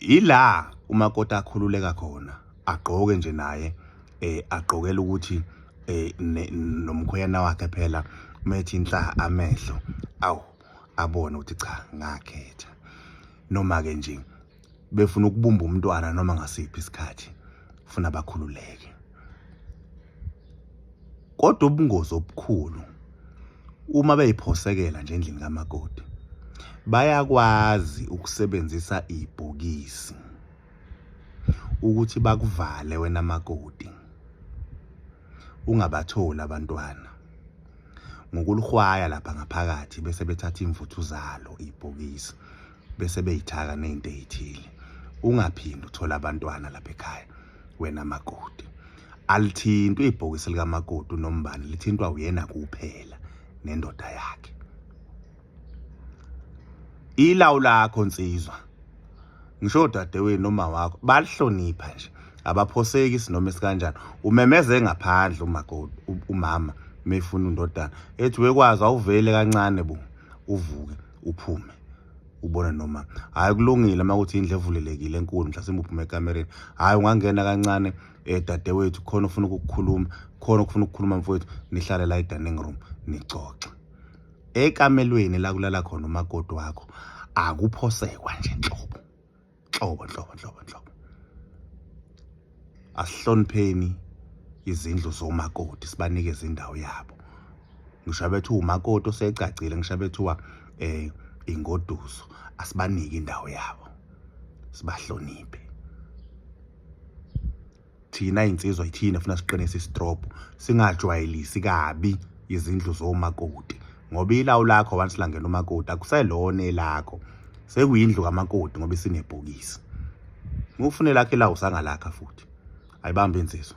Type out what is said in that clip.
yila umakoti akhululeka khona agqoke nje naye eh agqokela ukuthi eh nomkhwena wakhe phela methi inhla amehlo awu abone ukuthi cha ngakhetha noma ke nje befuna ukubumba umntwana noma ngasiphi isikhathi funa bakhululeke kodwa ubungozi obukhulu uma beyiphosekela nje endlini kamakoti bayakwazi ukusebenzisa ibhokisi ukuthi bakuvale wena makoti ungabatholi abantwana ngokulihwaya lapha ngaphakathi bese bethatha imvuthu zalo ibhokisi bese beyithaka nezinto ezithile ungaphindi uthola abantwana lapha ekhaya wena makoti alithintwa ibhokisi likamakoti unombani lithintwa uyena kuphela nendoda yakhe ilawu lakho nsizwa ngisho dadewenu noma wakho balihlonipha nje abaphoseki sinoma esikanjani umemeze ngaphandle umakoti umama mefuna undodana ethi wekwazi awuvele kancane bo uvuke uphume ubone noma hayi kulungile uma kuthi indlu evulelekile enkulu mhlasimbe uphume ekamereni hayi ungangena kancane um dadewethu khona ufuna ukukukhuluma khona ukufuna ukukhuluma mfowethu nihlale la e-dining room nixoxe ekamelweni la kulala khona umakoti wakho akuphosekwa nje nhlobo nhlobo nhlobo nhlobo nhlobo asihlonipheni izindlu zomakoti sibanikeze indawo yabo ngisho bethu umakoti osegcagcile ngisho bethuwa eh ingoduso asibanike indawo yabo sibahloniphe thina insizwa ithina funa siqinise istrobo singajwayelisi kabi izindlu zomakoti ngoba ilawu lakho once langena umakoti akuselona elakho sekuyindlu kamakoti ngoba isinebhokisi ngufune lakhe lawu sangalakha futhi ayibambe insizwa